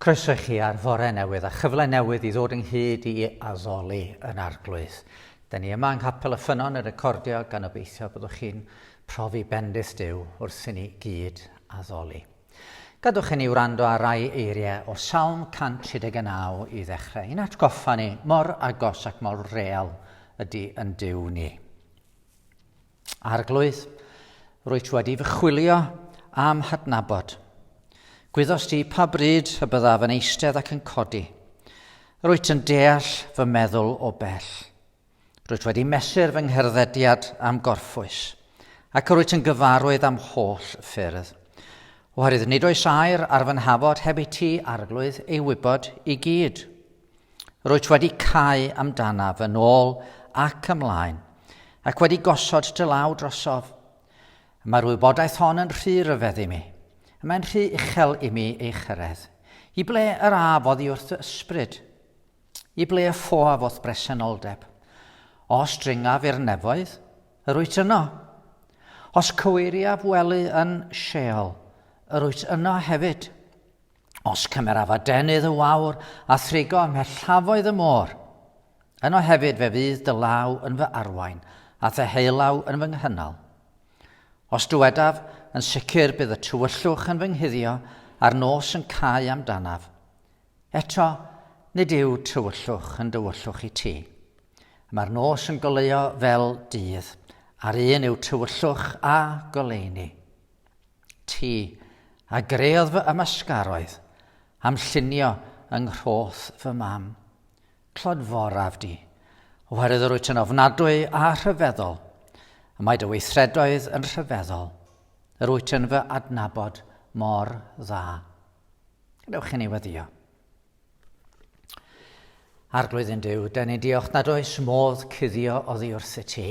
Croeso i chi ar fore newydd a chyfle newydd i ddod ynghyd i addoli yn arglwydd. Da ni yma yng Nghapel y Ffynon yn recordio gan obeithio byddwch chi'n profi bendith Dyw wrth i ni gyd addoli. Gadwch i ni wrando ar rai eiriau o Salm 139 i ddechrau. Yn atgoffa ni mor agos ac mor real ydy yn Dyw ni. Arglwydd, rwyt ti wedi fy chwilio am hadnabod. Gwyddost ti pa bryd y byddaf yn eistedd ac yn codi. Rwyt yn deall fy meddwl o bell. Rwyt wedi mesur fy ngherddediad am gorffwys, ac rwyt yn gyfarwydd am holl ffyrdd. Oherwydd nid oes air ar fy nhafod heb i ti, arglwydd, ei wybod i gyd. Rwyt wedi cau amdanaf yn ôl ac ymlaen, ac wedi gosod dy law drosof. Mae'r wybodaeth hon yn rhy ryfedd i mi. Mae'n rhy uchel i mi ei chyrraedd. I ble yr af oddi wrth dy ysbryd? I ble y ffoaf o'th bresenoldeb? Os dringaf i'r nefoedd, yr wyt yno. Os cyweiriaf wely yn Sheol, yr wyt yno hefyd. Os cymeraf adenydd y wawr a thrigo ymhellafoedd y môr, yno hefyd fe fydd dy law yn fy arwain a thy heilaw yn fy nghynnal. Os dywedaf, yn sicr bydd y tywyllwch yn fy nghuddio a'r nos yn cau amdanaf. Eto, nid yw tywyllwch yn dywyllwch i ti. Mae'r nos yn goleuo fel dydd, a'r un yw tywyllwch a goleuni. ti, a greodd fy ymysgaroedd am llunio yng nghroth fy mam. Clodforaf di, oherwydd yr wyt yn ofnadwy a rhyfeddol, y mae dy weithredoedd yn rhyfeddol, yr wyt yn fy adnabod mor dda. Gadewch i ni weddio. Arglwydd yn Dyw, da ni'n diolch nad oes modd cuddio oddi wrth y ti.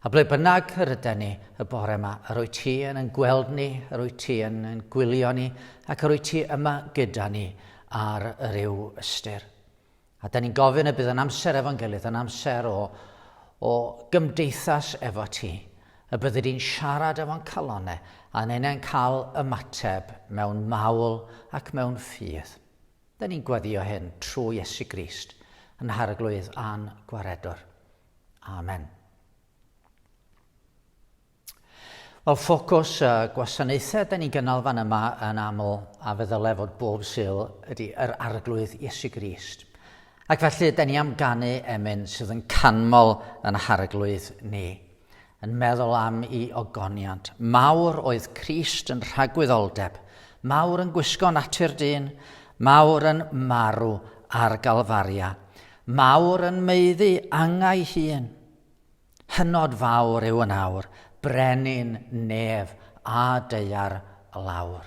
A ble bynnag yr yda ni y bore yma, yr wyt ti yn yn gweld ni, yr wyt ti yn yn gwylio ni, ac yr wyt ti yma gyda ni ar yr yw ystyr. A da ni'n gofyn y bydd yn amser efo'n gilydd, yn amser o, o gymdeithas efo ti, Y byddi di'n siarad efo'n calon e, a'n enau'n cael ymateb mewn mawl ac mewn ffydd. Da ni'n gweddio hyn trwy Iesu Grist, yn Harglwydd a'n Gwaredwr. Amen. Wel, ffocws y gwasanaethau da ni'n gynnal fan yma yn aml a fe ddyle fod bob syl ydy yr arglwydd Iesu Grist. Ac felly, da ni am ganu emyn sydd yn canmol yn harglwydd ni. Yn meddwl am i ogoniant, mawr oedd Crist yn rhagwyddoldeb, mawr yn gwisgo natur dyn, mawr yn marw ar Galfaria, mawr yn meiddi angau hun. Hynod fawr yw yn awr, brenin nef a deiar lawr.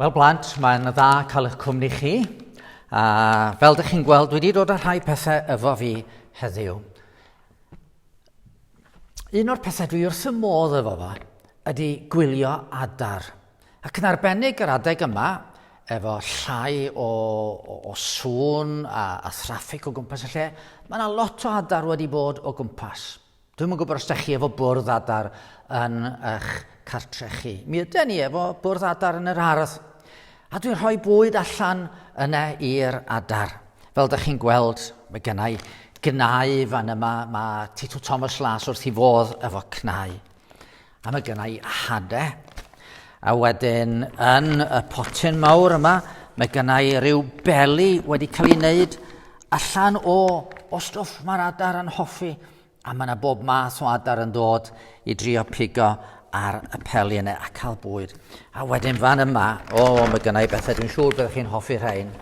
Wel blant, mae'n dda cael eich cwmni chi. A fel ydych chi'n gweld, dwi wedi dod â rhai pethau efo fi heddiw. Un o'r pethau dwi wrth y modd efo fo ydy gwylio adar. Ac yn arbennig yr adeg yma, efo llai o, o, o sŵn a, a thraffig o gwmpas y lle, mae yna lot o adar wedi bod o gwmpas. Dwi'm yn gwybod os da chi efo bwrdd adar yn eich cartre chi. Mi ydy ni efo bwrdd adar yn yr ardd. A dwi'n rhoi bwyd allan yna i'r adar. Fel da chi'n gweld, mae gennau gynau fan yma, mae Tito Thomas Las wrth i fodd efo cnau. A mae gen i hade. A wedyn yn y potyn mawr yma, mae gen i ryw beli wedi cael ei wneud allan o, o stwff mae'r adar yn hoffi. A mae yna bob math o adar yn dod i drio pigo ar y peli yna a cael bwyd. A wedyn fan yma, o, oh, mae gen i bethau dwi'n siŵr byddwch chi'n hoffi rhain.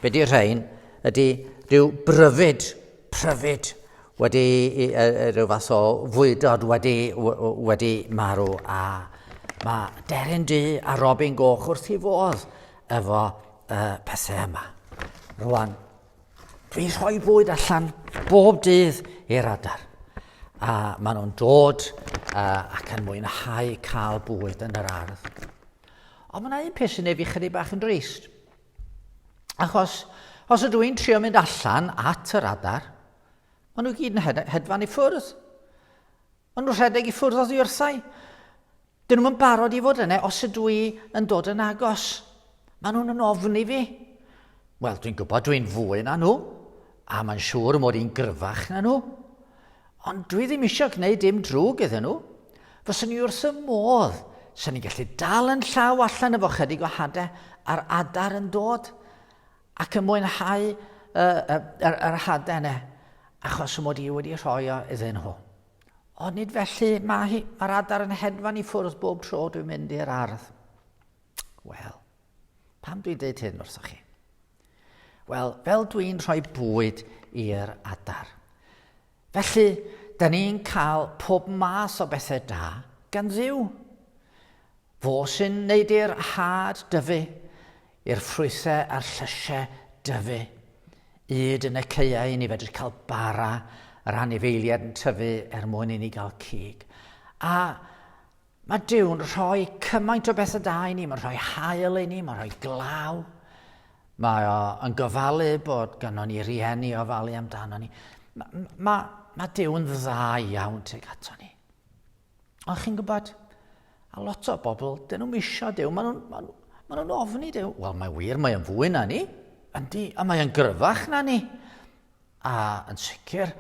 Be di rhain? Ydy rhyw bryfyd pryfed wedi rhyw fath o fwydod wedi, wedi marw a mae Deryn Du a Robin Goch wrth i fodd efo uh, pethau yma. Rwan, dwi rhoi bwyd allan bob dydd i'r adar. A maen nhw'n dod uh, ac yn mwynhau cael bwyd yn yr ardd. Ond mae yna un peth sy'n ei fi chydig bach yn drist. Achos os ydw i'n trio mynd allan at yr adar, maen nhw gyd yn hedfan i ffwrdd. Maen nhw'n rhedeg i ffwrdd oddi wrthau. Dyn nhw'n barod i fod yna os ydw i yn dod yn agos. Maen nhw'n yn ofni fi. Wel, dwi'n gwybod dwi'n fwy na nhw, a mae'n siŵr mod i'n gryfach na nhw. Ond dwi ddim eisiau gwneud dim drwg iddyn nhw. Fyswn i wrth y modd sy'n ni'n gallu dal yn llaw allan efo chydig o hadau a'r adar yn dod ac yn mwynhau y, y, y, yr hadau yna achos y mod i wedi rhoi o iddyn nhw. Ond nid felly, mae hi, mae'r adar yn hedfan i ffwrdd bob tro dwi'n mynd i'r ardd. Wel, Pam dwi'n dweud hyn wrthoch chi? Wel, fel dwi'n rhoi bwyd i'r adar. Felly, da ni'n cael pob math o bethau da gan ddiw. Fo sy'n neud i'r had dyfu, i'r ffrwythau a'r llysiau dyfu. Yd yn y ceiau ni fedru cael bara yr anifeiliad yn tyfu er mwyn i ni gael cig. A Mae Duw'n rhoi cymaint o bethau da i ni, mae'n rhoi hael i ni, mae'n rhoi glaw. Mae o yn gofalu bod gynnon ni rieni o falu amdano ni. Mae, mae, mae Duw'n dda iawn tuag ato ni. Ond chi'n gwybod, a lot o bobl, dyn nhw'n misio Duw, maen nhw'n ma ma nhw ofni Duw. Wel, mae wir, mae'n fwy na ni. Yndi, a mae'n gryfach na ni. A, yn sicr,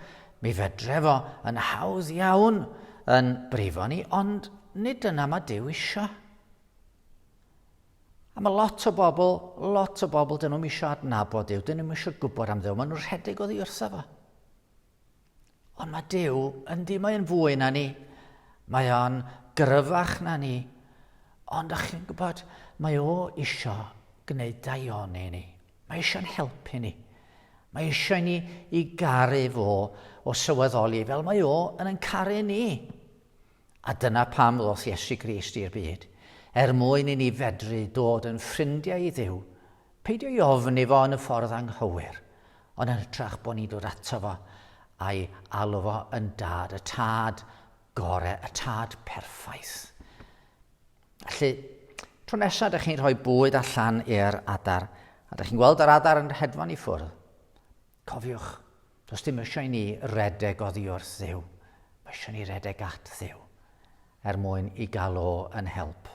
mi fedre fo yn hawdd iawn yn brifo ni, ond nid dyna mae Duw isio. A mae lot o bobl, lot o bobl, dyn nhw'n isio adnabod Duw, dyn nhw'n isio gwybod am Dduw, maen nhw'n rhedeg o ddi wrtho fo. Ond mae Duw, yndi mae yn fwy na ni, mae o'n gryfach na ni, ond ych chi'n gwybod, mae o isio gwneud daioni ni, Mae eisiau'n helpu ni. Mae eisiau ni i garu fo o sylweddoli fel mae o yn yn caru ni. A dyna pam ddoth Iesu Grist i'r byd, er mwyn i ni fedru dod yn ffrindiau i ddiw, peidio i ofn i fo yn y ffordd anghywir, ond yn hytrach bod ni'n dod ato fo a'i alw fo yn dad, y tad gore, y tad perffaith. Felly, tro nesaf ydych chi'n rhoi bwyd allan i'r adar, a ydych chi'n gweld yr adar yn hedfan i ffwrdd, cofiwch, does dim eisiau ni redeg oddi wrth ddew. Mae eisiau ni redeg at ddew er mwyn i gael o yn help.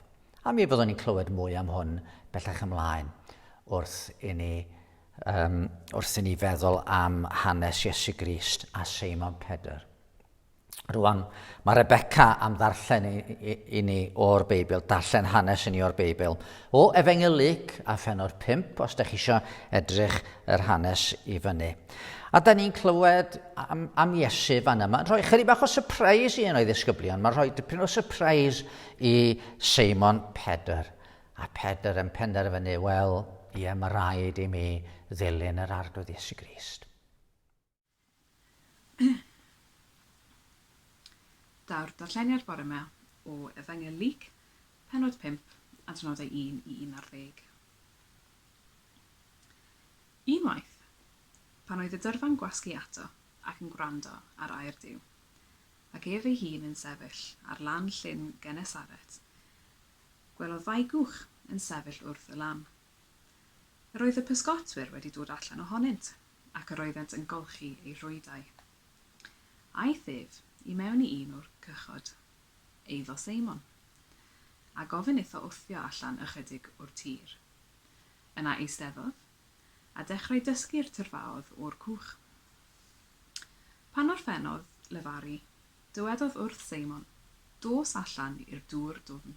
A mi fyddwn ni'n clywed mwy am hwn bellach ymlaen wrth i ni, um, wrth i ni feddwl am hanes Iesu Grist a Simon Pedr. Rwan, mae Rebecca am ddarllen i, i, i ni o'r Beibl, darllen hanes i ni o'r Beibl. O Efengyl Luc a pheno'r 5, os da chi eisiau edrych yr hanes i fyny. A da ni'n clywed am, am Iesu fan yma. Rhoi chyri bach o surprise i un o'i ddisgyblion. Mae'n rhoi dipyn o surprise i Simon Pedr. A Pedr yn penderfynu, wel, ie, mae rhaid i mi ddilyn yr arglwydd Iesu Grist. Daw'r darlleniad bore ma o Efengyl Luc, penod 5, adnodau 1 i 11. Unwaith, pan oedd y dyrfa'n gwasgu ato ac yn gwrando ar air Duw, ac ef ei hun yn sefyll ar lan llyn Genesaret, gwelodd ddau gwch yn sefyll wrth y lan. Yr oedd y pysgotwyr wedi dod allan ohonynt, ac yr oeddent yn golchi eu rhwydau. Aeth ef i mewn i un o'r cychod, eiddo Seimon, a gofyn iddo wthio allan ychydig o'r tir. Yna eisteddodd, a dechrau dysgu'r tyrfaoedd o'r cwch. Pan orffennodd lefaru, Dywedodd wrth Seimon, Dos allan i'r dŵr dwfn,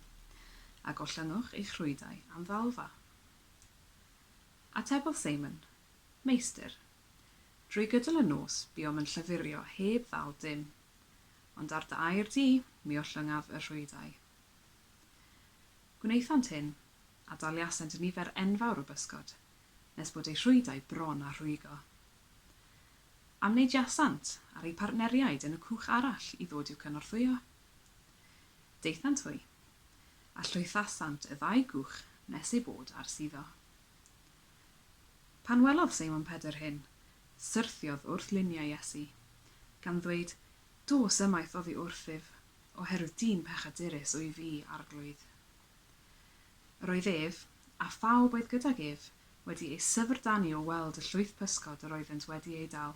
a gollynnwch eich rhwydau am ddalfa. Atebodd Seimon, Meistr, drwy gydol y nos buom yn llyfurio heb ddal dim, ond ar dy air di mi ollyngaf y rhwydau. Gwnaethant hyn, a daliasent nifer enfawr o bysgod, nes bod eu rhwydau bron â rhwygo. Am wneud Jasant ar eu partneriaid yn y cwch arall i ddod i'w cynorthwyo. Daethant hwy. A llwythasant y ddau gwch nes eu bod ar suddo. Pan welodd Seimon Pedr hyn, syrthiodd wrth luniau Iesu, gan ddweud, Dos ymaith oddi wrthyf, oherwydd dyn pechadurus wyf i, Arglwydd. Yr oedd ef, a phawb oedd gydag ef, wedi ei syfrdanu o weld y llwyth pysgod yr oeddent wedi eu dal.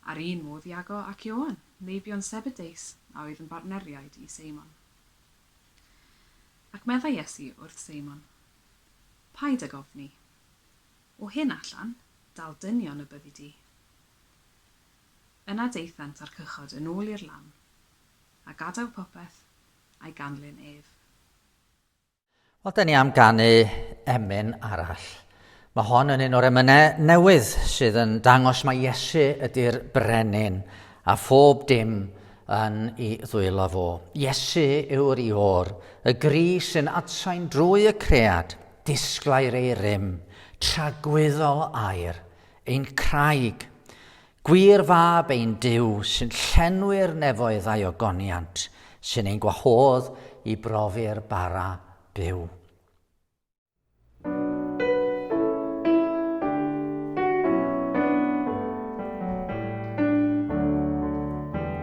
A'r un modd Iago ac Ioan, meibion Sebedeus, a oedd yn bartneriaid i Seimon. Ac meddai Iesu wrth Seimon, Paid ag ofni. O hyn allan, dal dynion y byddi di. Yna daethant â'r cychod yn ôl i'r lam, a gadael popeth, I ganlyn ef. Wel, da ni am ganu emyn arall. Mae hon yn un o'r emynau newydd sydd yn dangos mae Iesu ydy'r brenin a phob dim yn i ddwylo fo. Iesu yw'r ior, y gri sy'n adsain drwy y cread, disglair ei rym, tragwyddol air, ein craig. Gwir fab ein Duw, sy'n llenwi'r nefoedd a'i ogoniant, sy'n ein gwahodd i brofi'r bara byw.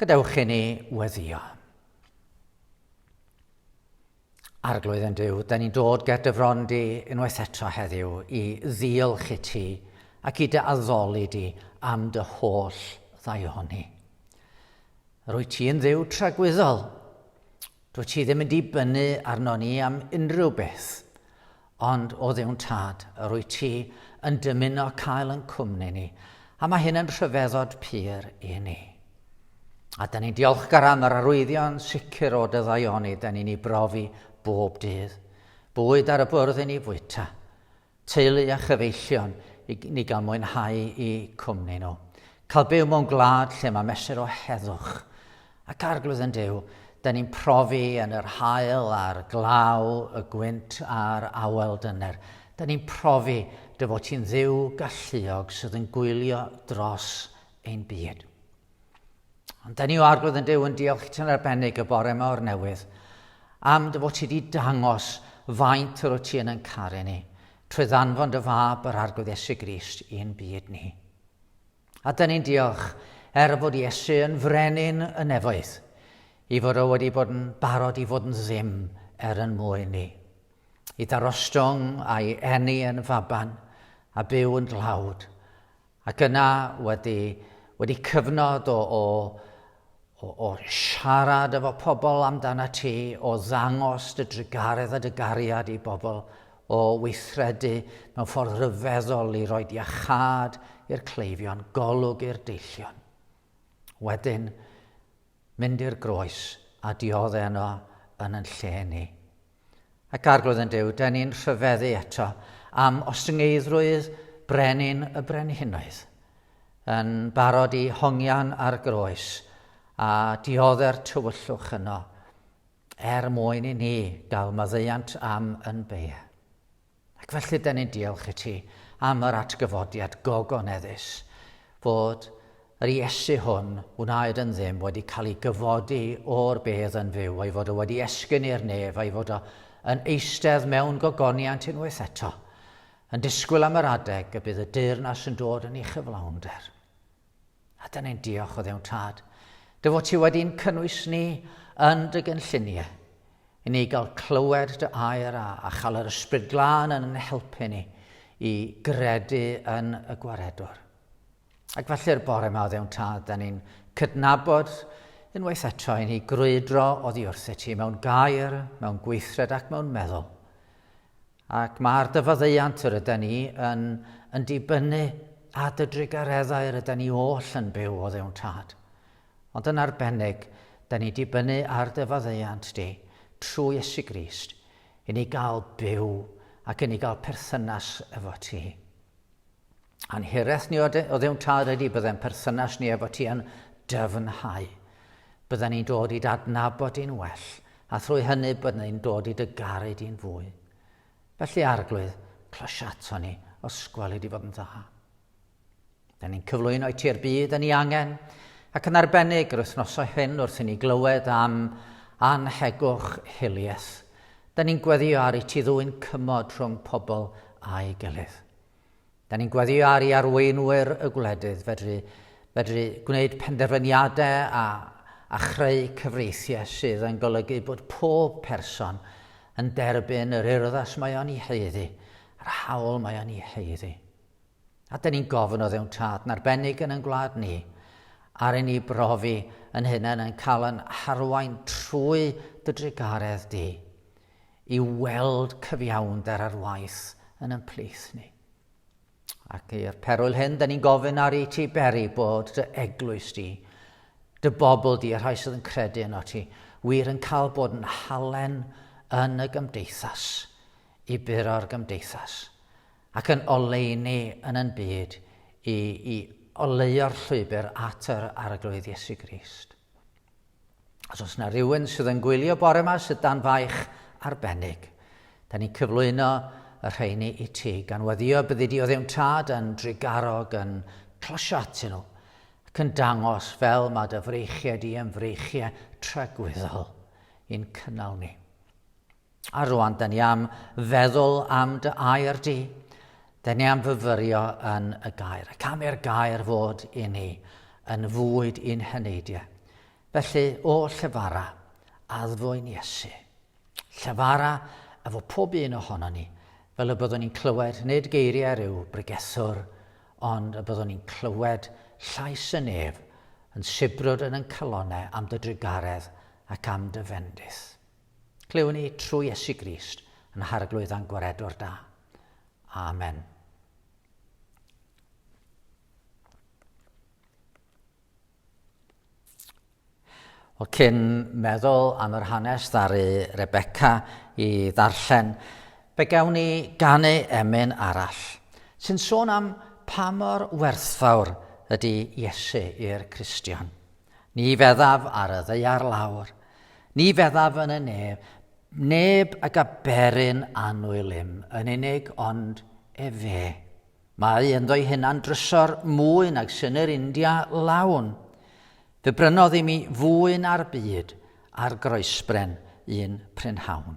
Gadewch i ni weddio. Arglwydd yn Dyw, da ni'n dod ger dy fron di unwaith eto heddiw i ddiolch i ti ac i dy addoli di am dy holl ddaioni. Rwy ti'n ddiw tragwyddol. Dwyt ti ddim yn dibynnu arnon ni am unrhyw beth, ond o Dduw'n Tad yr wyt ti yn dymuno cael yn cwmni ni, a mae hyn yn rhyfeddod pur i ni. A da ni'n diolchgar am yr arwyddion sicr o dyddaioni da ni'n ei brofi bob dydd. Bwyd ar y bwrdd i ni fwyta. teulu a chyfeillion i ni gael mwynhau i cwmni nhw. Cael byw mewn gwlad lle mae mesur o heddwch ac arglwydd yn Duw, da ni'n profi yn yr hael a'r glaw, y gwynt a'r awel dyner. Da ni'n profi dy fod ti'n dduw galluog sydd yn gwylio dros ein byd. Ond da ni o arglwydd yn Dyw yn diolch i ti'n arbennig y bore yma o'r newydd am dy fod ti wedi dangos faint yr o ti yn yn caru ni trwy ddanfon dy fab yr arglwydd Iesu Grist i'n byd ni. A da ni'n diolch er fod Iesu yn frenin y nefoedd, i fod o wedi bod yn barod i fod yn ddim er yn mwy ni. I ddarostwng a'i enni yn faban a byw yn dlawd, Ac yna, wedi, wedi cyfnod o, o, o, o siarad efo pobl amdana ti, o ddangos dy drugaredd a dy gariad i bobl, o weithredu mewn ffordd rhyfeddol i roi iachad i'r cleifion, golwg i'r deillion. Wedyn, mynd i'r groes a diodde yno yn yn lle ni. Ac Arglwydd yn Duw, da ni'n rhyfeddu eto am ostyngeiddrwydd brenin y brenhinoedd, yn barod i hongian ar groes a diodde'r tywyllwch yno, er mwyn i ni gael maddeuant am yn beie. Ac felly, da ni'n diolch i ti am yr atgyfodiad gogoneddus fod yr Iesu hwn wnaed yn ddim wedi cael ei gyfodi o'r bedd yn fyw, ei fod o wedi esgyn i'r nef, ei fod o yn eistedd mewn gogoniant unwaith eto, yn disgwyl am yr adeg y bydd y deyrnas yn dod yn ei chyflawnder. A dyna ni'n diolch o ddewn tad, dy fod ti wedi'n cynnwys ni yn dy gynlluniau, i ni gael clywed dy air a, a chael yr ysbryd glân yn helpu ni i gredu yn y gwaredwr. Ac felly'r bore yma o ddewn tad, da ni'n cydnabod unwaith eto i ni grwydro oddi wrth i ti mewn gair, mewn gweithred ac mewn meddwl. Ac mae ar dy faddeuant yr yden ni yn yn dibynnu a dy drugareddau yr yden ni oll yn byw o ddewn tad. Ond yn arbennig, da ni dibynnu ar dy faddeuant di, trwy Iesu Grist, i ni gael byw ac i ni gael perthynas efo ti. A'n hiraeth ni oddion tad ydy byddai'n perthynas ni efo ti yn dyfnhau. Bydden ni'n dod i dadnabod di'n well, a thrwy hynny bydden ni'n dod i dy garu di'n fwy. Felly, Arglwydd, clys ato ni os gweli di fod yn dda. Da ni'n cyflwyno i ti'r byd yn ei angen, ac yn arbennig yr wythnosau hyn wrth i ni glywed am anhegwch hiliaeth. Da ni'n gweddio ar i ti ddwyn cymod rhwng pobl a'i gilydd. Da ni'n gweddio ar i arweinwyr y gwledydd fedru, fedru gwneud penderfyniadau a, a chreu cyfreithiau sydd yn golygu bod pob person yn derbyn yr urddas mae o'n ei heiddi, yr hawl mae o'n ei heiddi. A dyn ni'n gofyn o ddewn tad narbennig yn yn gwlad ni, ar i ni brofi yn hunain yn cael yn harwain trwy dy drugaredd di, i weld cyfiawnder ar waith yn yn plith ni. Ac i'r perwyl hyn, dyn ni'n gofyn ar i ti beri bod dy eglwys di, dy bobl di, y rhai sydd yn credu yn o ti, wir yn cael bod yn halen yn y gymdeithas, i buro'r gymdeithas, ac yn oleuni yn yn byd i, i oleuo'r llwybr at yr Arglwydd Iesu Grist. Os oes yna rhywun sydd yn gwylio bore yma sydd dan faich arbennig, da ni'n cyflwyno y rheini i ti, gan weddio byddi di o ddim tad yn drigarog yn closio atyn nhw, ac yn dangos fel mae dy freichiau di yn freichiau tragwyddol i'n cynnal ni. A rwan da ni am feddwl am dy air di. Da ni am fyfyrio yn y gair, ac am i'r gair fod i ni yn fwyd i'n heneidiau. Felly, o llyfara, addfwyn Iesu. Llyfara efo pob un ohono ni, fel y byddwn ni'n clywed nid geiriau rhyw bregethwr, ond y byddwn ni'n clywed llais y nef yn sibrwd yn yn calonau am dy drugaredd ac am dy fendith. Clywwn ni trwy Iesu Grist yn harglwydd a'n gwaredwr da. Amen. Wel, cyn meddwl am yr hanes ddaru Rebecca i ddarllen, fe gawn ni ganu emyn arall, sy'n sôn am pa mor werthfawr ydy Iesu i'r Cristion. Ni feddaf ar y ddaear lawr, ni feddaf yn y nef, neb ag a berin annwyl im yn unig ond efe. Mae ynddo'i hunan drysor mwy nag synnir India lawn. Fe brynodd i mi fwy na'r byd ar groesbren un prynhawn.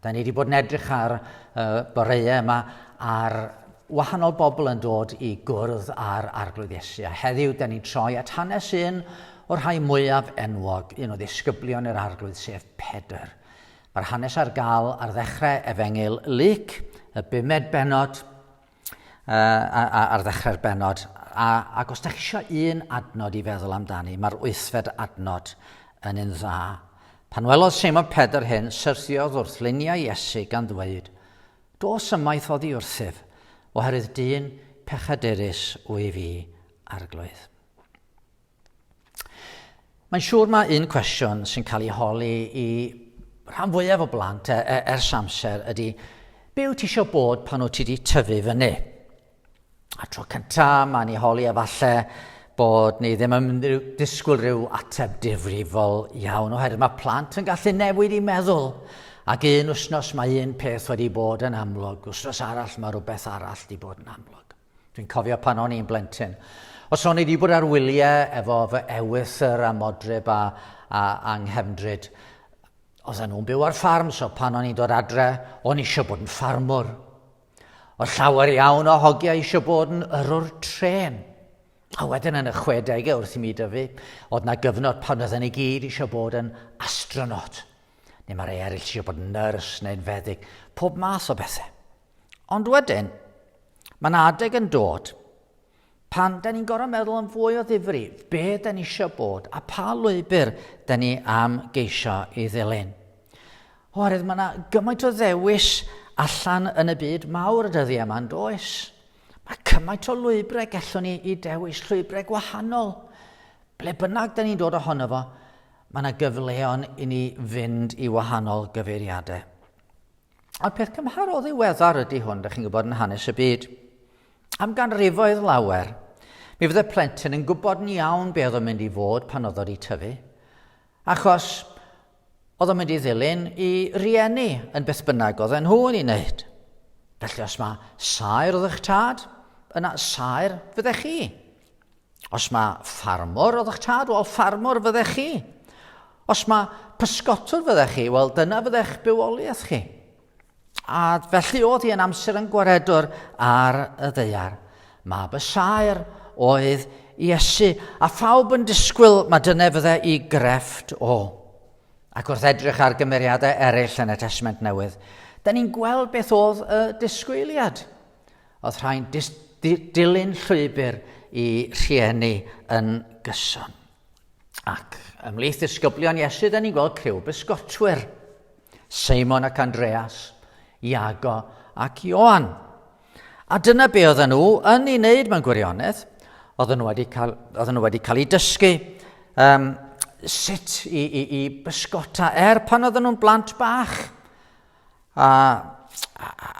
Da ni wedi bod yn edrych ar y boreau yma ar wahanol bobl yn dod i gwrdd ar Arglwydd Iesu. A heddiw, da ni'n troi at hanes un o'r rhai mwyaf enwog, un o ddisgyblion yr Arglwydd, sef Pedr. Mae'r hanes ar gael ar ddechrau Efengyl Lyc, y bumed benod, uh, ar ddechrau'r benod. A, ac os da chi eisiau un adnod i feddwl amdani, mae'r wythfed adnod yn un dda. Pan welodd Simon Pedr hyn, syrthiodd wrth luniau Iesu gan ddweud, Dos ymaith oddi wrthyf, oherwydd dyn pechadurus wyf i, arglwydd. Mae'n siŵr mae un cwestiwn sy'n cael ei holi i rhan fwyaf o blant e, e, ers amser ydy, be wyt ti eisiau bod pan wyt ti wedi tyfu fyny? A tro cyntaf, mae'n ei holi efallai bod ni ddim yn disgwyl rhyw ateb difrifol iawn, oherwydd mae plant yn gallu newid i meddwl. Ac un wythnos mae un peth wedi bod yn amlwg, wythnos arall mae rhywbeth arall wedi bod yn amlwg. Dwi'n cofio pan o'n i'n blentyn. Os o'n i wedi bod ar wyliau efo fy ewythr a modryb a, a, a nghefndryd, oedden nhw'n byw ar ffarm, so pan o'n i'n dod adre, o'n eisiau bod yn ffarmwr. Oedd llawer iawn o hogiau eisiau bod yn yrwr tren. A wedyn yn y 60au wrth i mi dyfu, oedd na gyfnod pan oedden ni gyd eisiau bod yn astronaut. Neu mae rhai eraill eisiau bod yn nyrs neu'n feddyg, pob math o bethau. Ond wedyn, mae'n adeg yn dod pan da ni'n gorau meddwl am fwy o ddifri, be da ni eisiau bod a pa lwybr da ni am geisio i ddilyn. Oherwydd mae yna gymaint o ddewis allan yn y byd mawr y dyddiau yma yn does. Mae cymaint o lwybrau gallwn ni i dewis, llwybrau gwahanol. Ble bynnag da ni'n dod ohono fo, mae yna gyfleon i ni fynd i wahanol gyfeiriadau. A'r peth cymharol ddiweddar ydy hwn, da chi'n gwybod, yn hanes y byd. Am ganrifoedd lawer, mi fydde plentyn yn gwybod yn iawn be oedd o'n mynd i fod pan oedd o'i tyfu. Achos oedd o'n mynd i ddilyn i rieni yn beth bynnag oedd nhw yn ei wneud. Felly os mae saer oedd eich tad, yna saer fydde chi. Os mae ffarmwr, oedd eich tad, wel, ffarmwr fyddech chi. Os mae pysgotwr fyddech chi, wel, dyna fyddech bywoliaeth chi. A felly oedd hi yn amser yn gwaredwr ar y ddeiar. Mae bysaer oedd Iesu, a phawb yn disgwyl mae dyna fydde i grefft o. Ac wrth edrych ar gymeriadau eraill yn y Testament Newydd, da ni'n gweld beth oedd y disgwyliad. Oedd rhai'n dilyn llwybr i rhieni yn gyson. Ac ymhlith ddisgyblion Iesu, da ni'n gweld criw bysgotwyr. Simon ac Andreas, Iago ac Ioan. A dyna be oedden nhw yn ei wneud mewn gwirionedd. Oedden nhw wedi cael, oedden nhw wedi cael ei dysgu um, sut i, i, i bysgota er pan oedden nhw'n blant bach. A, a, a,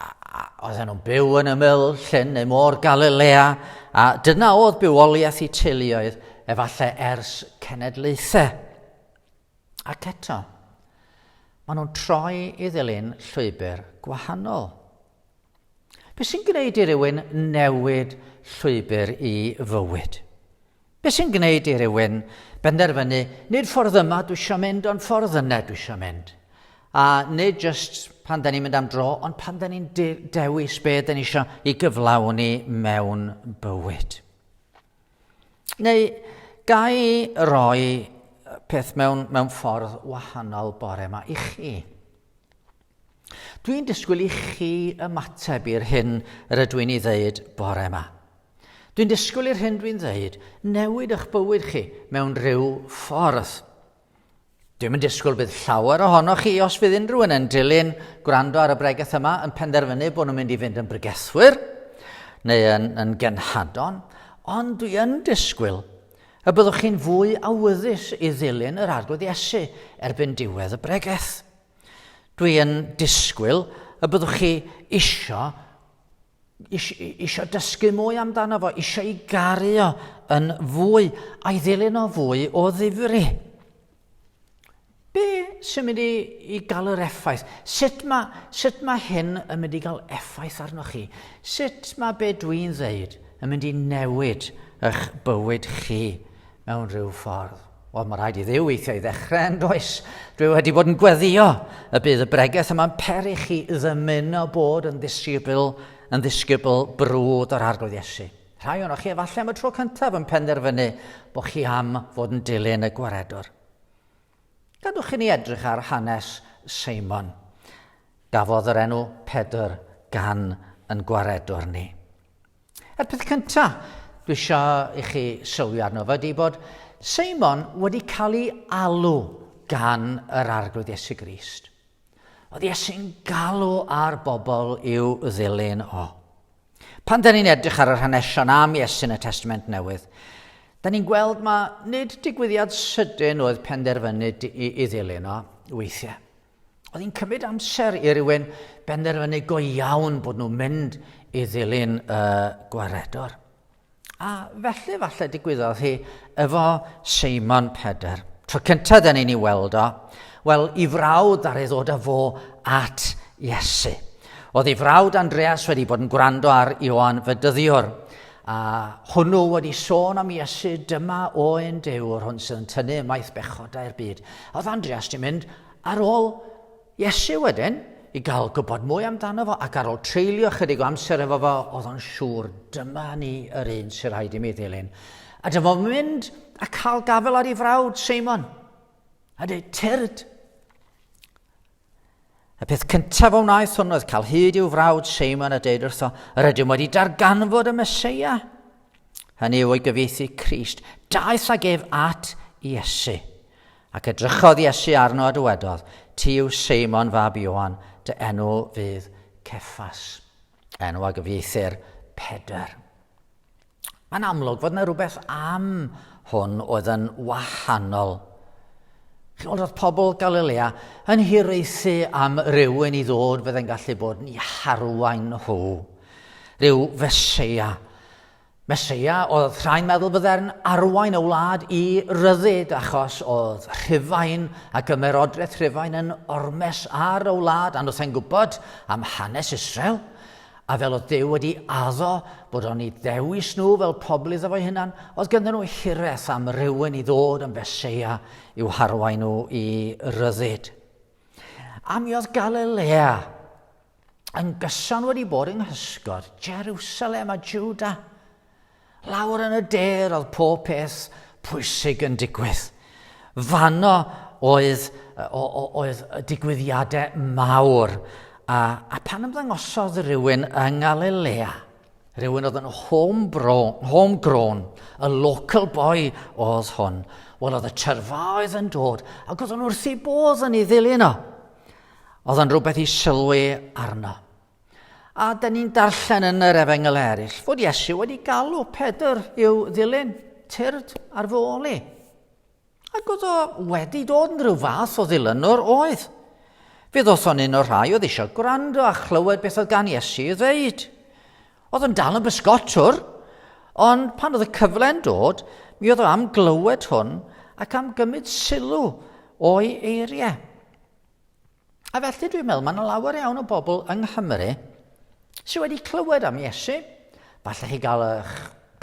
a oedden nhw'n byw yn ymyl llyn neu môr Galilea, a dyna oedd bywoliaeth i teuluoedd efallai ers cenedlaethau. Ac eto, maen nhw'n troi i ddilyn llwybr gwahanol. Be sy'n gwneud i rywun newid llwybr i fywyd? Be sy'n gwneud i rywun benderfynu, nid ffordd yma dwi eisiau mynd, ond ffordd yna dwi eisiau mynd? A nid jyst pan da ni'n mynd am dro, ond pan da ni'n de dewis be da ni eisiau i gyflawni mewn bywyd. Neu, gai roi peth mewn, mewn ffordd wahanol bore yma i chi? Dwi'n disgwyl i chi ymateb i'r hyn rydw i'n ei ddeud bore yma. Dwi'n disgwyl i'r hyn dwi'n ddeud newid eich bywyd chi mewn rhyw ffordd. Dwi'n yn disgwyl bydd llawer ohonoch chi, os fydd unrhyw un yn dilyn gwrando ar y bregeth yma, yn penderfynu bod nhw'n mynd i fynd yn bregethwyr neu yn, yn genhadon, ond dwi yn disgwyl y byddwch chi'n fwy awyddus i ddilyn yr arglwydd Iesu erbyn diwedd y bregeth. Dwi yn disgwyl y byddwch chi isio, isio, isio dysgu mwy amdano fo, isio i garu o yn fwy, a'i ddilyn o fwy o ddifri. Be sy'n mynd i, i gael yr effaith? Sut mae, sut mae hyn yn mynd i gael effaith arnoch chi? Sut mae be dwi'n ddeud yn mynd i newid eich bywyd chi mewn rhyw ffordd? Wel, mae rhaid i ddiw weithio i ddechrau yn does. Dwi wedi bod yn gweddio y bydd y bregeth yma'n peri chi ddymuno bod yn ddisgybl, yn ddisgybl brwd yr arglwydd Iesu. Rhai o'n chi efallai am y tro cyntaf yn penderfynu bod chi am fod yn dilyn y gwaredwr. Gadwch i ni edrych ar hanes Seimon. Gafodd yr enw Pedr gan yn gwaredwr ni. Y peth cynta dwi eisiau i chi sylwi arno fo ydy bod Seimon wedi cael ei alw gan yr Arglwydd Iesu Grist. Oedd Iesu'n galw ar bobl i'w ddilyn o. Pan da ni'n edrych ar yr hanesion am Iesu yn y Testament Newydd, da ni'n gweld mae nid digwyddiad sydyn oedd penderfynu i, i ddilyn o weithiau. Oedd hi'n cymryd amser i rywun benderfynu go iawn bod nhw'n mynd i ddilyn y gwaredwr. A felly falle digwyddodd hi efo Seimon Peder. Tro cyntaf dyn ni'n ei weld o, wel, i frawd ar ei ddod â fo at Iesu. Oedd ei frawd Andreas wedi bod yn gwrando ar Ioan Fedyddiwr, A hwnnw wedi sôn am Iesu, dyma oen dewr hwn sydd yn tynnu ymaith bechodau'r byd. A oedd Andreas di mynd ar ôl Iesu wedyn i gael gwybod mwy amdano fo ac ar ôl treulio chydig o amser efo fo, oedd o'n siŵr, dyma ni yr un sy'n rhaid i mi ddilyn. A dyma fo'n mynd a cael gafel ar ei frawd, Seimon, a dweud, tyrd, Y peth cyntaf a wnaeth hwn oedd cael hyd i'w frawd Seimon a deud wrtho, yr ydym wedi darganfod y Mesoea. Hynny yw ei gyfieithu Crist. Daeth ag ef at Iesu. Ac edrychodd Iesu arno a dywedodd, Ti yw Seimon fab Ioan, dy enw fydd Ceffas. Enw a gyfieithir Pedr. Mae'n amlwg fod yna rhywbeth am hwn oedd yn wahanol. Chi'n oedd pobl Galilea yn hiraethu am rywun i ddod fydde'n gallu bod yn harwain nhw. Rhyw fesia. Mesia oedd rhai'n meddwl fydde'n arwain y wlad i ryddid achos oedd rhyfain ac ymerodraeth rhyfain yn ormes ar y wlad a nhw'n gwybod am hanes Israel. A fel oedd Duw wedi addo bod o'n i ddewis nhw fel pobl iddo fo'i hunan, oedd gyda nhw hireth am rywun i ddod yn Feseia i'w harwain nhw i ryddid. A mi oedd Galilea yn gyson wedi bod yng nghysgod Jerusalem a Juda. Lawr yn y de roedd pob peth pwysig yn digwydd. Fanno oedd, oedd y digwyddiadau mawr. A, a pan ymddangosodd rhywun yng Ngalilea, rhywun oedd yn homegrown, y local boy oedd hwn, wel oedd y tyrfaoedd yn dod, ac oedd yn wrth ei bodd yn ei ddilyn o. Oedd yn rhywbeth i sylwi arno. A da ni'n darllen yn yr efengyl eraill fod Iesu wedi galw Pedr i'w ddilyn, tyrd ar fy ôl i. Ac oedd o wedi dod yn rhyw fath o ddilynwr oedd. Fe ddoth o'n un o'r rhai oedd eisiau gwrando a chlywed beth oedd gan Iesu i ddeud. Oedd yn dal yn bysgotwr, ond pan oedd y cyfle'n dod, mi oedd o am glywed hwn ac am gymryd sylw o'i eiriau. A felly dwi'n meddwl, mae yna lawer iawn o bobl yng Nghymru sydd wedi clywed am Iesu. Falle chi gael eich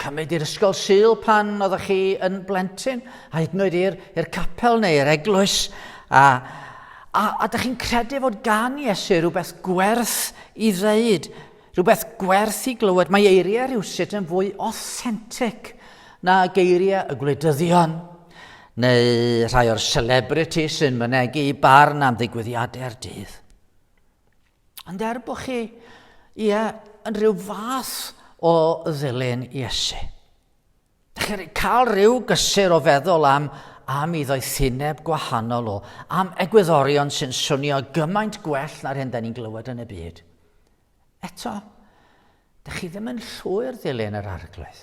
cymryd i'r ysgol syl pan oeddech chi yn blentyn, a hyd yn oed i'r capel neu i'r eglwys, a, a, a ydych chi'n credu fod gan Iesu rhywbeth gwerth i ddeud Rhywbeth gwerth i glywed, mae eiriau rhywsut yn fwy authentic na geiriau y gwleidyddion, neu rhai o'r celebrity sy'n mynegu i barn am ddigwyddiadau'r dydd. Ond er bod chi, ie, yn rhyw fath o ddilyn Iesu. Dych chi'n cael rhyw gysur o feddwl am am i ddoethineb gwahanol o, am egwyddorion sy'n swnio gymaint gwell na'r hyn da ni'n glywed yn y byd. Eto, dych chi ddim yn llwyr ddilyn yr arglwydd.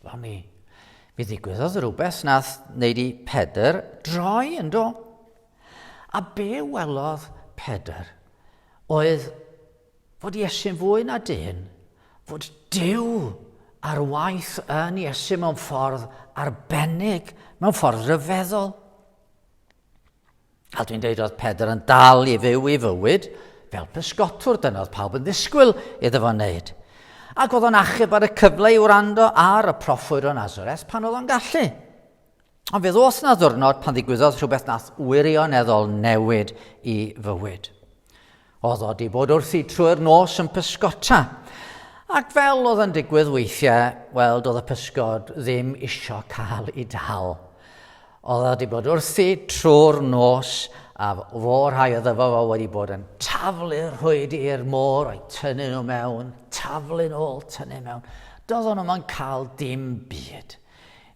Wel mi, mi ddigwyddodd rhywbeth nath wneud i Pedr droi yn do. A be welodd Pedr oedd Fod Iesu'n fwy na dyn, fod Duw ar waith yn Iesu mewn ffordd arbennig, mewn ffordd ryfeddol. A dwi'n deud oedd Pedr yn dal i fyw i fywyd fel pysgotwr, dyna oedd pawb yn ddisgwyl iddo fo wneud. Ac oedd o'n achub ar y cyfle i wrando ar y proffwyr o Nazareth pan oedd o'n gallu. Ond fe ddos na ddwrnod pan ddigwyddodd rhywbeth nath wirioneddol newid i fywyd. Oedd o di bod wrthi trwy'r nos yn pysgota. Ac fel oedd yn digwydd weithiau, wel, doedd y pysgod ddim isio cael ei dal. Oedd o wedi bod wrthi trwy'r nos a fo rhai o ddyfo fo wedi bod yn taflu rhwyd i'r môr o'i tynnu nhw mewn, taflu'n ôl, tynnu mewn. Doedd nhw'n nhw'n cael dim byd.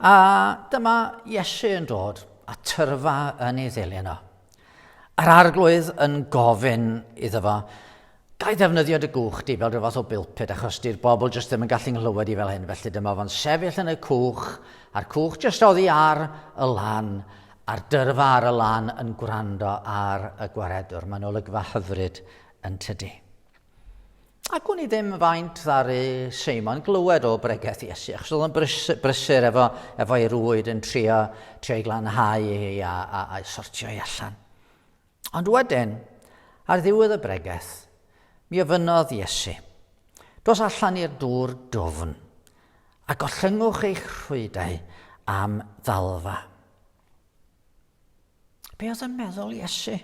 A dyma Iesu yn dod, a tyrfa yn ei ddilyn o. A'r arglwydd yn gofyn iddo fo, Gai ddefnyddio dy gwch di fel rhyw fath o bilpid, achos di'r bobl jyst ddim yn gallu nghlywed i fel hyn, felly dyma fo'n sefyll yn y cwch, a'r cwch jyst oddi ar y lan, a'r dyrfa ar y lan yn gwrando ar y gwaredwr. Mae'n olygfa hyfryd yn tydi. Ac wn i ddim faint ddaru Seimon glywed o bregeth Iesu, achos oedd o'n brys, brysur efo, efo ei rwyd yn trio, trio ei glanhau hi a, a, a sortio ei allan. Ond wedyn, ar ddiwedd y bregeth, mi ofynodd Iesu, Dos allan i'r dŵr dwfn, a gollyngwch eich rhwydau am ddalfa. Be oedd yn meddwl Iesu?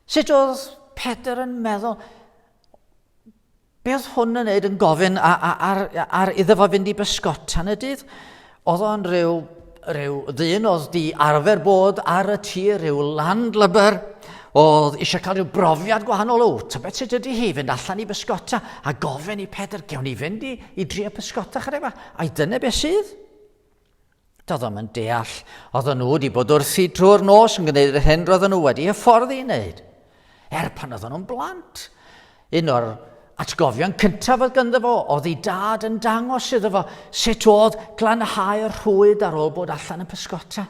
Sut oedd Pedr yn meddwl? Be oedd hwn yn neud yn gofyn ar, ar, ar iddo fo fynd i bysgotan y dydd? Oedd o'n rhyw, rhyw ddyn oedd di arfer bod ar y tir, rhyw landlubber, oedd eisiau cael rhyw brofiad gwahanol o, ta beth sydd wedi hi fynd allan i bysgota a gofyn i Pedr, gewn ni fynd i, i drio pysgota chyda yma, a'i dyna beth sydd? Doeddom yn deall, oedden nhw wedi bod wrthi drwy'r nos yn gwneud yr hyn roedden nhw wedi hyfforddi i wneud. Er pan oedden nhw'n blant, un o'r atgofion cyntaf oedd gynddo fo oedd ei dad yn dangos iddo fo sut oedd glanhau'r rhwyd ar ôl bod allan yn pysgota,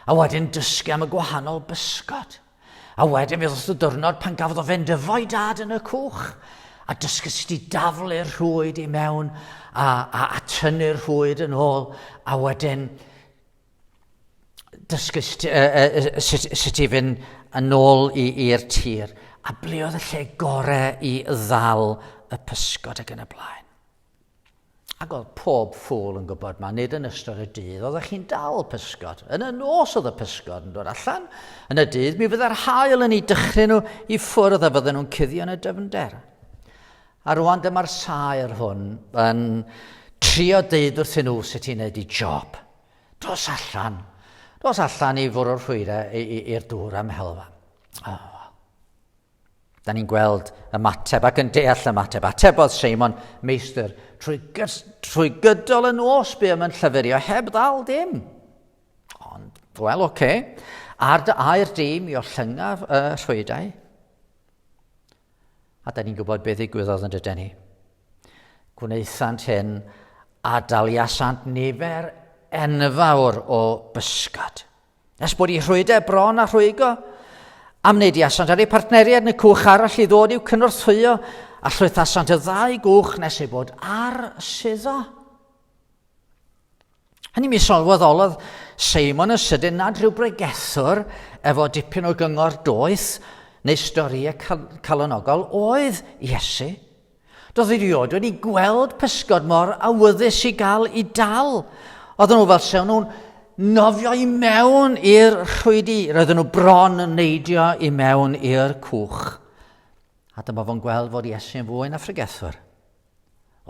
a wedyn dysgu am y gwahanol bysgod. A wedyn fe ddoth y dyrnod pan gafodd o fynd efo'i dad yn y cwch a dysgu sut i daflu'r rhwyd i mewn a, a, a tynnu'r rhwyd yn ôl a wedyn dysgu sut, uh, uh, sut, sut i fynd yn ôl i'r tir a ble oedd y lle gorau i ddal y pysgod ac yn y blaen. Ac oedd pob ffwl yn gwybod ma, nid yn ystod y dydd oeddech chi'n dal pysgod. Yn y nos oedd y pysgod yn dod allan, yn y dydd mi fydda'r hael yn ei dychryn nhw i ffwrdd a fydden nhw'n cuddio yn y dyfnder. A rwan dyma'r saer hwn yn trio deud wrthyn nhw sut i'n neud i job. Dos allan, dos allan i fwrw'r rhwyre i'r dŵr am helfa. Oh. Da ni'n gweld ymateb ac yn deall ymateb. Atebodd Seimon, meistr, trwy, trwy gydol y nos bu yn llyfurio heb ddal dim. Ond, wel, oce, okay. ar dy air di mi o llyngaf y rhwydau. A da ni'n gwybod beth ddigwyddodd yn dydyn ni. Gwnaethant hyn a daliasant nifer enfawr o bysgod. Nes bod i rhwyde bron a rhwygo, am wneud i asant ar ei partneriaid yn y cwch arall i ddod i'w cynorthwyo a llwythasant y ddau gwch nes ei bod ar suddo. Hynny mi sylweddolodd Seimon yn sydyn nad rhyw bregethwr efo dipyn o gyngor doeth neu storïau calonogol oedd Iesu. Doedd erioed wedi gweld pysgod mor awyddus i gael i dal. Oedden nhw fel sewn nhw'n nofio i mewn i'r rhwydi. Roedden nhw bron yn neidio i mewn i'r cwch. A dyma fo'n gweld fod Iesu'n fwy na ffrygethwr.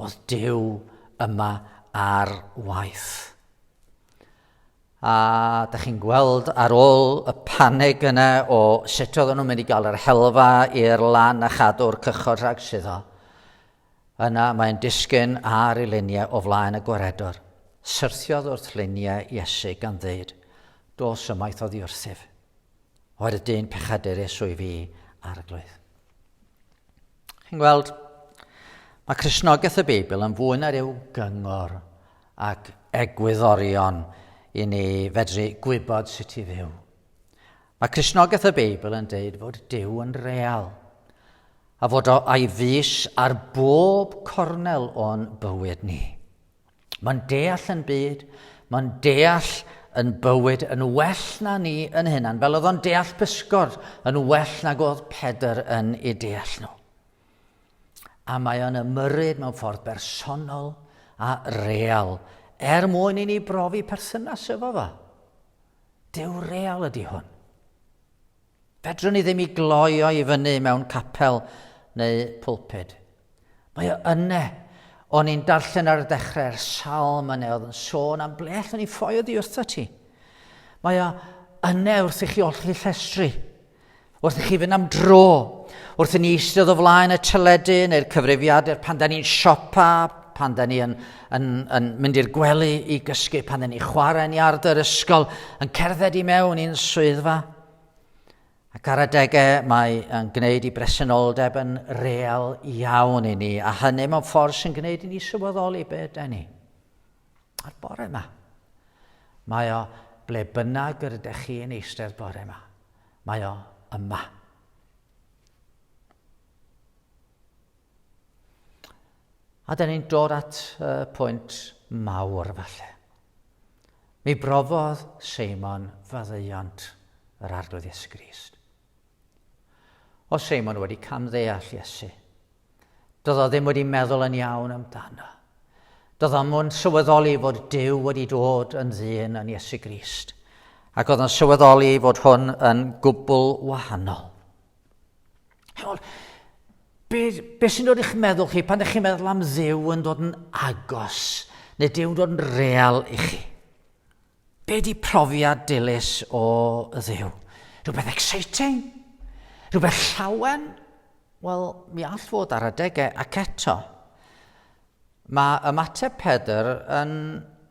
Oedd Dyw yma ar waith. A da chi'n gweld ar ôl y paneg yna o sut oedden nhw'n mynd i gael yr helfa i'r lan a chadw'r cychod rhag suddo, yna mae'n disgyn ar ei luniau o flaen y gwaredwr. Syrthiodd wrth luniau Iesu gan ddeud, Dos ymaith oddi wrthyf. Oedd y dyn pechadur Iesu i fi ar y gloedd. Chi'n gweld, mae Cresnogaeth y Beibl yn fwy na rhyw gyngor ac egwyddorion i ni fedru gwybod sut i fyw. Mae Cresnogaeth y Beibl yn deud fod Dyw yn real a fod o a'i fus ar bob cornel o'n bywyd ni. Mae'n deall yn byd, mae'n deall yn bywyd yn well na ni yn hynna'n fel oedd o'n deall pysgod yn well nag oedd Pedr yn ei deall nhw. A mae o'n ymyrryd mewn ffordd bersonol a real er mwyn i ni brofi perthynas efo fo. Dew real ydy hwn. Fedrwn ni ddim i gloi o i fyny mewn capel neu pulpud. Mae o yne. O'n i'n darllen ar y dechrau'r salm yne oedd yn sôn am ble allwn ni ffoi oddi wrtho ti. Mae o yne wrth i chi olli llestri, wrth i chi fynd am dro, wrth i ni eistedd o flaen y teledu neu'r cyfrifiadur pan da ni'n siopa, pan da ni'n yn, yn mynd i'r gwely i gysgu pan ni chwarae'n iard yr ysgol, yn cerdded i mewn i'n swyddfa. Ac ar adegau mae yn gwneud i bresenoldeb yn real iawn i ni, a hynny mewn ffordd sy'n gwneud i ni sylweddoli be ydy ni. A'r bore yma, mae o ble bynnag yr ydych chi yn eistedd bore yma. Mae o yma. A da ni'n dod at y pwynt mawr falle. Mi brofodd Seimon faddeuant yr arglwydd Iesu Grist. O Seimon wedi camddeall Iesu. Doedd o ddim wedi meddwl yn iawn amdano. Doedd o ddim sylweddoli fod Dyw wedi dod yn ddyn yn Iesu Grist. Ac oedd o'n sylweddoli fod hwn yn gwbl wahanol. Chymod, be, be sy'n dod i'ch meddwl chi pan ydych chi'n meddwl am ddew yn dod yn agos, neu dew yn dod yn real i chi? Be di profiad dilys o ddew? Rhywbeth exciting? Rhywbeth llawen? Wel, mi all fod ar adegau ac eto. Mae ymateb Pedr yn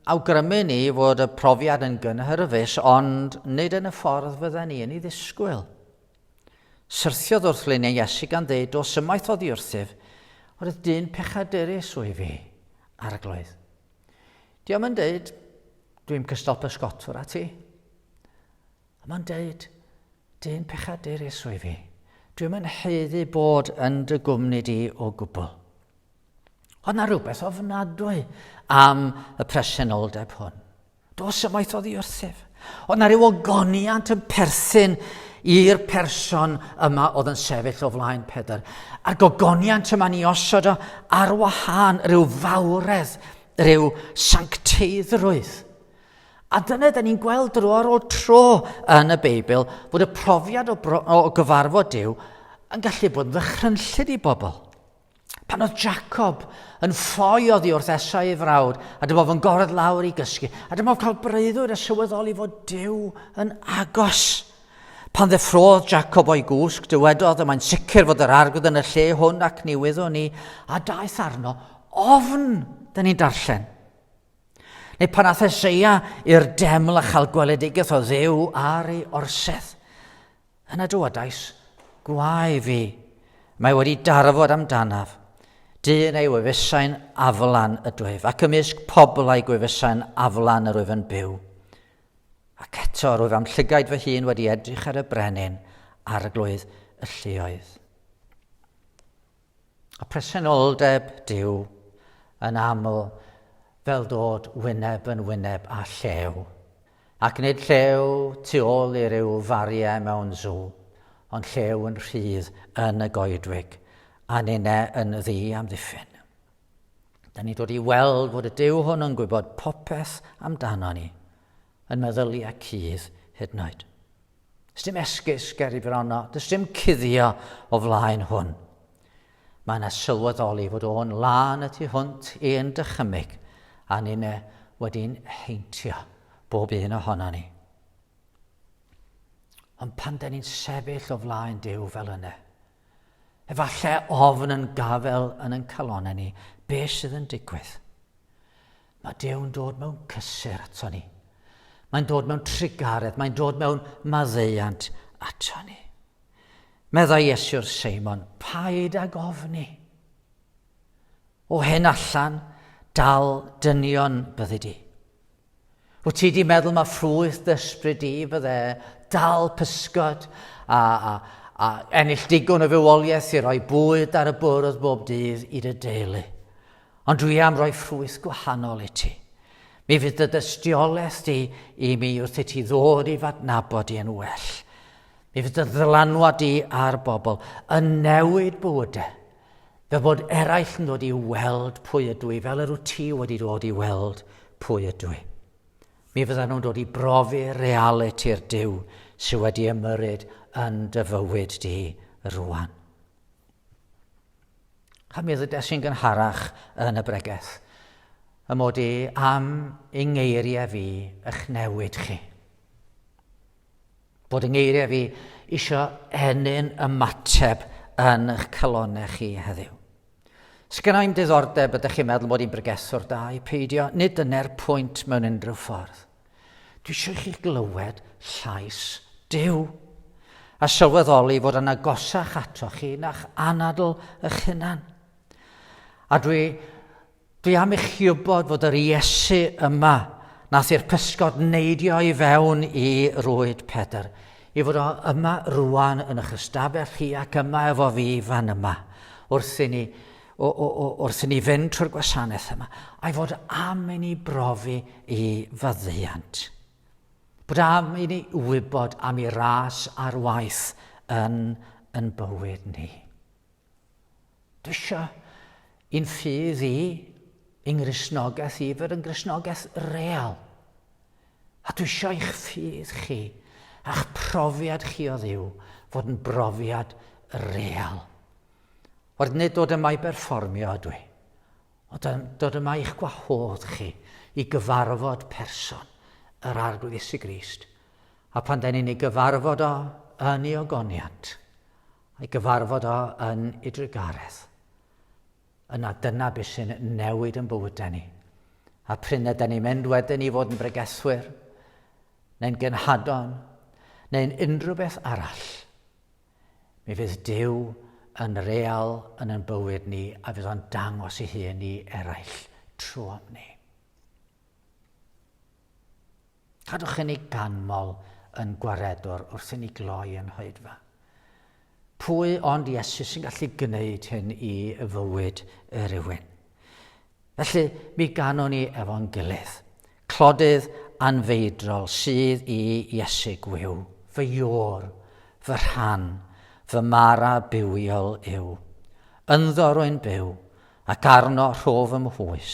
awgrymu ni fod y profiad yn gynhyrfus, ond nid yn y ffordd fydden ni yn ei ddisgwyl. Syrthiodd wrth leniau Iesu gan ddeud, Dos ymaith oddi wrthyf, oherwydd dyn pechaderus wyf i. Arglwydd. Diom yn deud, Dwi'n cystal pysgotwr a ti. A mae'n deud, Dyn pechaderus wyf i. Dwi'n yn heiddi bod yn dy gwmni di o gwbl. Ond na rhywbeth ofnadwy am y presenoldeb hwn. Dos ymaith oddi wrthyf. Oedd na ryw ogoniant yn perthyn i'r person yma oedd yn sefyll o flaen Pedr. A'r gogoniant yma ni osod o ar wahân rhyw fawredd, rhyw sancteiddrwydd. A dyna da ni'n gweld dro ar ôl tro yn y Beibl fod y profiad o, bro, o gyfarfod Dyw yn gallu bod yn ddychrynllyd i bobl. Pan oedd Jacob yn ffoi oddi wrth Esau ei frawd, a dyma fo'n gordd lawr i gysgu, a dyma fo'n cael breuddwyd a sylweddoli fod Dyw yn agos. Pan ddeffrodd Jacob o'i gwsg, dywedodd y mae'n sicr fod yr arglwydd yn y lle hwn ac ni wyddwn ni, a daeth arno ofn, da ni'n darllen. Neu pan ath Eseia i'r deml a chael gweledigaeth o ddew ar ei orsedd. Yna dywedais, Gwae fi, mae wedi darfod amdanaf, dyn ei wefusau'n aflan ydwyf, ac ymysg pobl a'i gwefusau'n aflan yr wyf yn byw. Ac eto, rwyf am llygaid fy hun wedi edrych ar y brenin, arglwydd y lluoedd. A presenoldeb Duw, yn aml, fel dod wyneb yn wyneb â llew. Ac nid llew tu ôl i ryw fariau mewn sw, ond llew yn rhydd yn y goedwig, a ninne yn ddi amddiffyn. Da ni'n dod i weld fod y Duw hwn yn gwybod popeth amdano ni, yn meddyliau cudd hyd yn oed. Does dim esgus ger i frono, does dim cuddio o flaen hwn. Mae yna sylweddoli fod o'n lân y tu hwnt i'n dychymyg, a ni'n e wedi'n heintio, bob un ohono ni. Ond pan da ni'n sefyll o flaen Dyw fel yna, Efallai ofn yn gafel yn yn calonau ni, be sydd yn digwydd? Mae Dew'n dod mewn cysur ato ni. Mae'n dod mewn trugaredd, mae'n dod mewn maddeuant ato ni. Meddai Iesu'r Seimon, paid ag ofni. O hen allan, dal dynion byddi di. Wyt ti di meddwl mae ffrwyth dysbryd di fydde dal pysgod a, a, a ennill digon o fywoliaeth i roi bwyd ar y bwrdd bob dydd i dy deulu. Ond dwi am roi ffrwyth gwahanol i ti. Mi fydd dy dystiolaeth di i mi wrth i ti ddod i fadnabod i yn well. Mi fydd dy ddylanwad di ar bobl yn newid bywydau. Fel bod eraill yn dod i weld pwy ydw i, fel yr wyt ti wedi dod i weld pwy ydw i. Mi fyddan nhw'n dod i brofi realiti'r Dyw sydd wedi ymyrryd yn dy fywyd di rwan. A mi ddydes i'n gynharach yn y bregeth, y mod i am yng ngeiriau fi ych newid chi. bod yng ngeiriau fi isio ennyn ymateb yn eich calonau chi heddiw. Sgynna i'm diddordeb ydych chi'n meddwl bod i'n bregethwr da i peidio, nid dyna'r pwynt mewn unrhyw ffordd. Dwi eisiau chi glywed llais Dyw a sylweddoli fod yna gosach ato chi na'ch anadl ych hunan. A dwi Dwi am i chi wybod fod yr Iesu yma nath i'r pysgod neidio i fewn i rwyd Pedr, i fod o yma rwan yn eich ystafell chi ac yma efo fi fan yma, wrth i ni, o, o, o, wrth i ni fynd trwy'r gwasanaeth yma, a'i fod am i ni brofi i fyddiant. Bod am i ni wybod am i ras ar waith yn yn bywyd ni. Dysha i'n ffydd i, yng Nghristnogaeth i, fod yn Gristnogaeth real. A dwysha i'ch ffydd chi, a'ch profiad chi o ddiw, fod yn brofiad real. Wrth nid dod yma i berfformio ydw i, ond dod yma i'ch gwahodd chi i gyfarfod person yr Arglwydd Iesu Grist. A pan da ni'n ei gyfarfod o yn ei ogoniant, I gyfarfod o yn ei drugaredd. Yna dyna beth sy'n newid yn bywydau ni. A pryn ydy ni'n mynd wedyn i fod yn bregethwyr, neu'n genhadon, neu'n unrhyw beth arall, mi fydd Dyw yn real yn ein bywyd ni a fydd o'n dangos ei hun i eraill trwy ni. Cadwch hyn i ganmol yn gwaredwr wrth inni gloi yn hoedfa. Pwy ond Iesu sy'n gallu gwneud hyn i fywyd rhywun? Felly, mi ganwn ni efo'n gilydd. Clodydd anfeidrol sydd i Iesu gwyw, fy iôr, fy rhan, fy mara bywiol yw. Ynddo rwy'n byw, ac arno rho fy mhwys.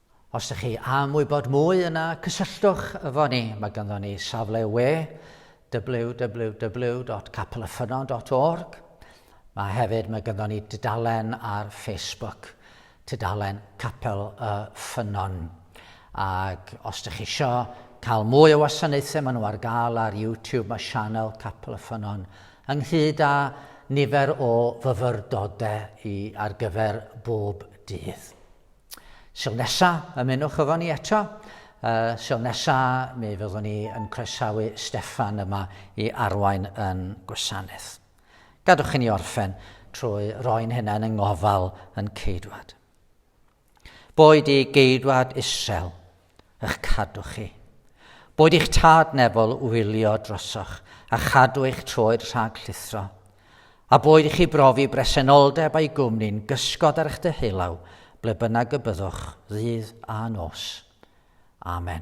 Os ych chi am wybod mwy yna cysylltwch efo ni. Mae ganddo ni safle we www.capelaffynnon.org. Mae hefyd mae ganddo ni dudalen ar Facebook, tudalen Capel y Ffynnon. Ac os ydych chi eisiau cael mwy o wasanaethau maen nhw ar gael ar YouTube, mae sianel Capel y Ffynnon ynghyd â nifer o fyfyrdodau i ar gyfer bob dydd. Sil nesa, ymunwch efo ni eto. Uh, sil nesa, mi fyddwn ni yn croesawu Steffan yma i arwain yn gwasanaeth. Gadwch i ni orffen trwy roi'n hunain yng ngofal yn ceidwad. Boed i geidwad isel ych cadw chi. Boed eich tad nefol wylio drosoch a chadw eich troed rhag llithro, a boed i chi brofi bresenoldeb a'i gwmni'n gysgod ar eich deheulaw ble bynnag y byddwch ddydd a nos. Amen.